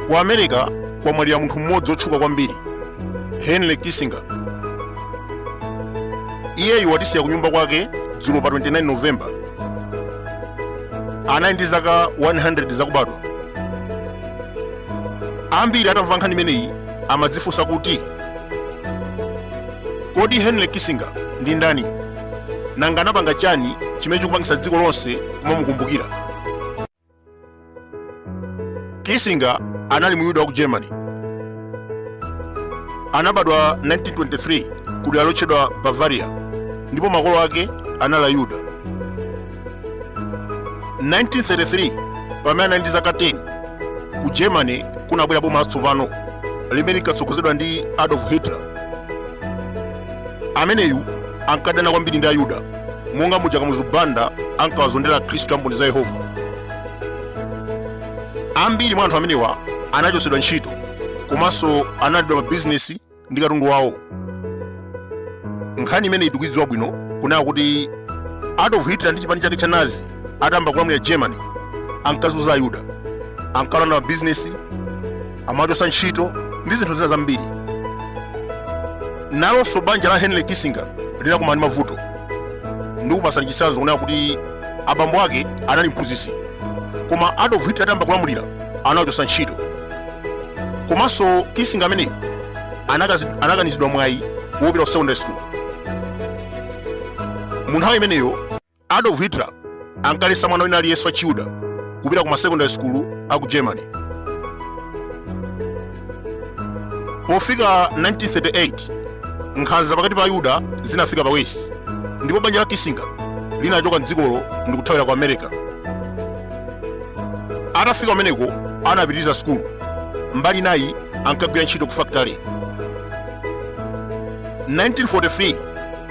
ku america kwamwalira munthu mmodzi wotchuka kwambiri henry kissinger iyeyu watisiya kunyumba kwake dzulo pa 29 novemba anali ndi zaka 100 zakubadwa ambiri atamva nkhani imeneyi amadzifunsa kuti kodi henry kissinger ndi ndani nanga anapanga chani chimene chikupangisa dziko lonse kumamukumbukira kissinger anali muyuda wa ku germany anabadwa 1923 ku dera lotchedwa bavaria ndipo makolo ake anali ayuda 1933 pamene anali ndi zaka 10 ku germany kunabwera boma latsopano limene linkatsogozedwa ndi adolf hitler ameneyu ankadana kwambiri ndi ayuda monga muja kamuzu banda ankawazondera akhristu a mboni za yehova ambiri mwa anthu amenewa anachotsedwa ntchito komanso analandidwa mabizinesi ndi katundu wawo nkhani imeneyi tikuidziwa bwino kunena kuti adolf hitler ndi chipani chake cha nazi atayamba kulamulira germany ankazunza ayuda ankalanda mabizinesi amawachotsa ntchito ndi zinthu zina zambiri nalonso banja la henry kissinger linakumana ndi mavuto ndikupasani chitsanzo kunena kuti abambo ake anali mphunzitsi koma adolf hitler atayamba kulamulira anawachotsa ntchito komanso kissinger ameneyu anakazi- anakanizidwa mwayi wopita ku secondary school mu nthawi imeneyo adolf hitler ankaletsa mwana wina aliyense wa chiyuda kupita ku masecondary school a ku germany pofika 1938 nkhanza pakati pa ayuda zinafika pa wesi ndipo banja la kissinger linachoka mdzikolo ndikuthawira ku america atafika kumeneko anapitiriza sukulu mbali inayi ankagwira ntchito ku fakitale 1943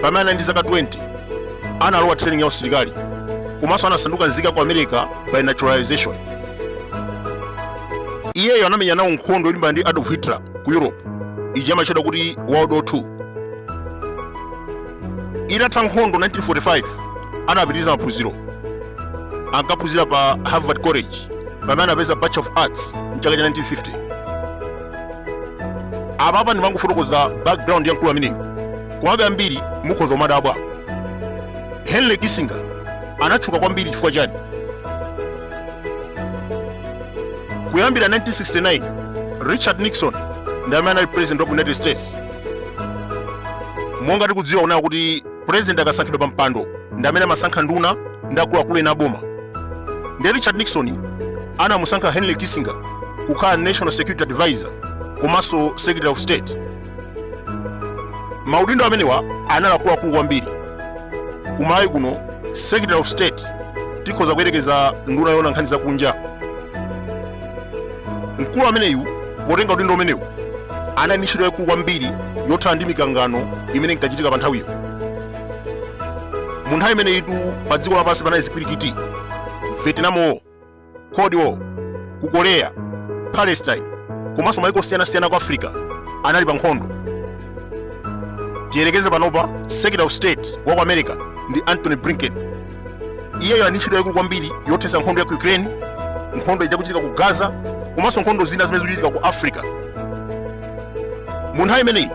pamene anali ndi zaka 20 analowa training ya usilikali komanso anasanduka nzika ya ku america by naturalization iyeyo anamenya nawo nkhondo yolimbana ndi adolf hitler ku europe ija amatchedwa kuti world war 2 itatha nkhondo 1945 anapitiriza maphunziro ankaphunzira pa harvard college pamene anapeza bachelor of arts mchaka cha 1950 apapa ndimangofotokoza background ya mkulu ameneyu komabe ambiri mukhoza kumadabwa henry kissinger anatchuka kwambiri chifukwa chani kuyambira 1969 richard nixon ndi amene anali president wa ku united states monga tikudziwa kunena kuti purezidenti akasankhidwa pa mpando ndi amene amasankha nduna ndi akuluakulu ena aboma ndiye richard nixon anamusankha henry kissinger kukhala national security advisor komanso secretary of state maudindo amenewa anali akuluakulu kwambiri kumalawi kuno secretary of state tikhoza kuyerekeza nduna yoona nkhani zakunja mkulu ameneyu potenga udindo umenewu anali ndi ntchito yaikulu kwambiri yothana ndi mikangano imene inkachitika pa nthawiyo mu nthawi imeneyitu pa dziko lapansi panali zipwirikiti vietnam war cold war ku korea palestine komanso maiko osiyanasiyana ku africa anali pa nkhondo tiyerekeze panopa secretary of state wa ku america ndi anthony blinken iyeyo ali ndi ntchito yaikulu kwambiri yothetsa nkhondo ya ku ukraine nkhondo ikuchitika ku gaza komanso nkhondo zina zimene zikuchitika ku africa mu nthawi imeneyi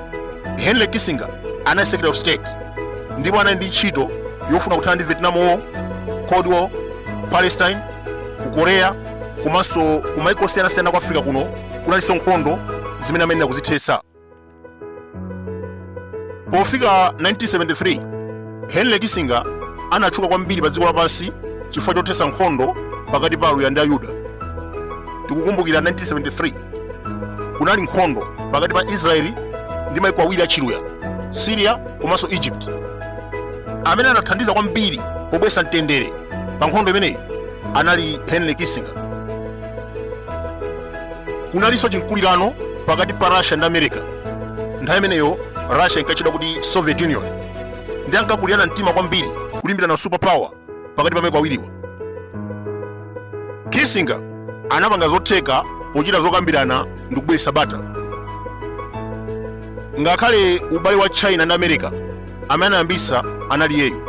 henry kissinger anali secretary of state ndipo anali ndi ntchito yofuna kuthana ndi vietnam war cold war palestine ku korea komanso ku maiko osiyanasiyana ku africa kuno kunalinso nkhondo zimene amayenera kuzithetsa pofika 1973 henry kissinger anatchuka kwambiri pa dziko lapansi chifukwa chothetsa nkhondo pakati pa aluya ndi ayuda tikukumbukira 1973 kunali nkhondo pakati pa israeli ndi maiko awiri achiluya syria komanso egypt amene anathandiza kwambiri pobwesa mtendere pa nkhondo imeneyi anali henry kissinger kunalinso chimkulirano pakati pa russia ndi america nthawi imeneyo russia inkatchedwa kuti soviet union ndiye ankakulirana mtima kwambiri kulimbirana super power pakati pa maiko awiriwa kissinger anapanga zotheka pochita zokambirana ndi kubweretsa bata ngakhale ubale wa china ndi america amene anayambitsa anali iyeyu.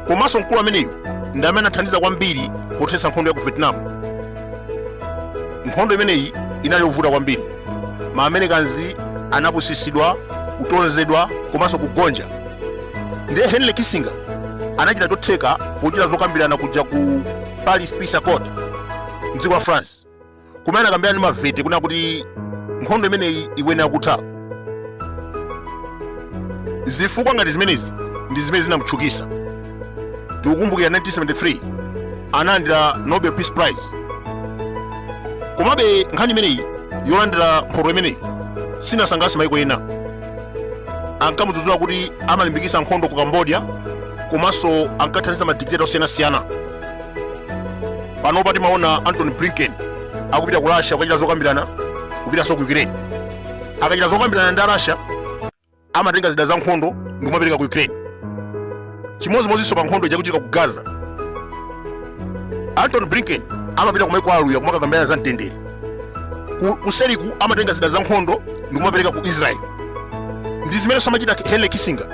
Komanso mkulu ameneyu ndi amene anathandiza kwambiri pothetsa nkhondo ya ku Vietnam. Nkhondo imeneyi inali yovuta kwambiri. Ma Americans anapusitsidwa, kutonzedwa komanso kugonja. Ndiye Henry Kissinger anachita chotheka pochita zokambirana kuja ku Paris Peace Accord m'dziko la France. kumene anakambirana ndi maviet kunena kuti nkhondo imeneyi ikuyenera kutha zifukwa ngati zimenezi ndi zimene zinamutchukisa tikukumbukira 1973 analandira nobel peace prize komabe nkhani imeneyi yolandira mphoto imeneyi sinasangalatse maiko ena ankamudzudzula kuti amalimbikitsa nkhondo ku cambodia komanso ankathandiza madikiteta osiyanasiyana panopa timaona antony blinken akupita ku russia kukachita zokambirana kupitanso ku ukraine akachita zokambirana ndi arussia amatenga zida za nkhondo ndikumapereka ku ukraine chimodzimodzinso pa nkhondo ikuchitika ku gaza antony blinken amapita kumaiko aluya kumakakambirana za mtendere kuseriku amatenga zida za nkhondo ndikumapereka ku israeli ndi zimene amachita henry kissinger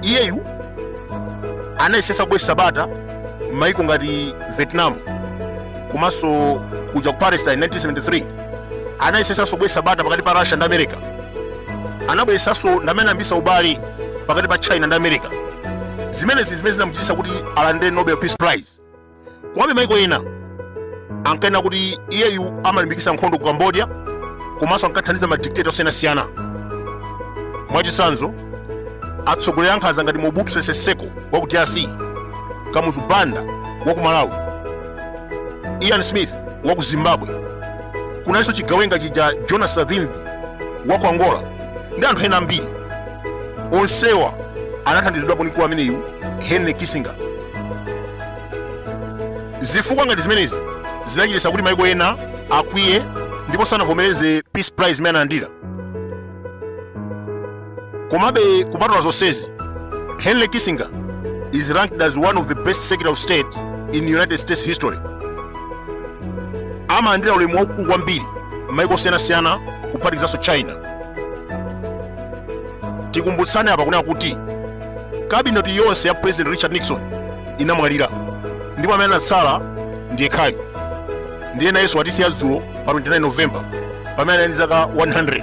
iyeyu anayesesa kubwesa bata m'maiko ngati vietnam komanso kuja ku palestine 1973 anayesesanso kubwesa bata pakati pa russia ndi america anabweresanso ndi amene anayambisa ubale pakati pa china ndi america zimenezi ndi zimene zinamuchitisa kuti alandire nobel peace prize komabe maiko ena ankanena kuti iyeyu amalimbikitsa nkhondo ku cambodia komanso ankathandiza madikiteta osiyanasiyana mwachitsanzo atsogoleri ankhanza ngati mobutu sese seko wa ku drc kamuzu banda wa ku malawi ian smith wa ku zimbabwe kunalinso chigawenga chija cha jonas savimbi wa ku angola ndi anthu ena ambiri onsewa anathandizidwapo ndi mkulu ameneyu henry kissinger zifukwa ngati zimenezi zinachititsa kuti maiko ena akwiye ndipo sanavomereze peace prize imene analandira komabe kupatula zonsezi henry kissinger is ranked as one of the best secretary of state in united states history amalandira ulemu waukulu kwambiri m'maiko osiyanasiyana kuphatikizanso china tikumbutsane apa kunena kuti kabineti yonse ya president richard nixon inamwalira ndipo amene anatsala ndi yekhayu ndiye nayenso watisiya dzulo pa 29 november pamene anali ndi zaka 100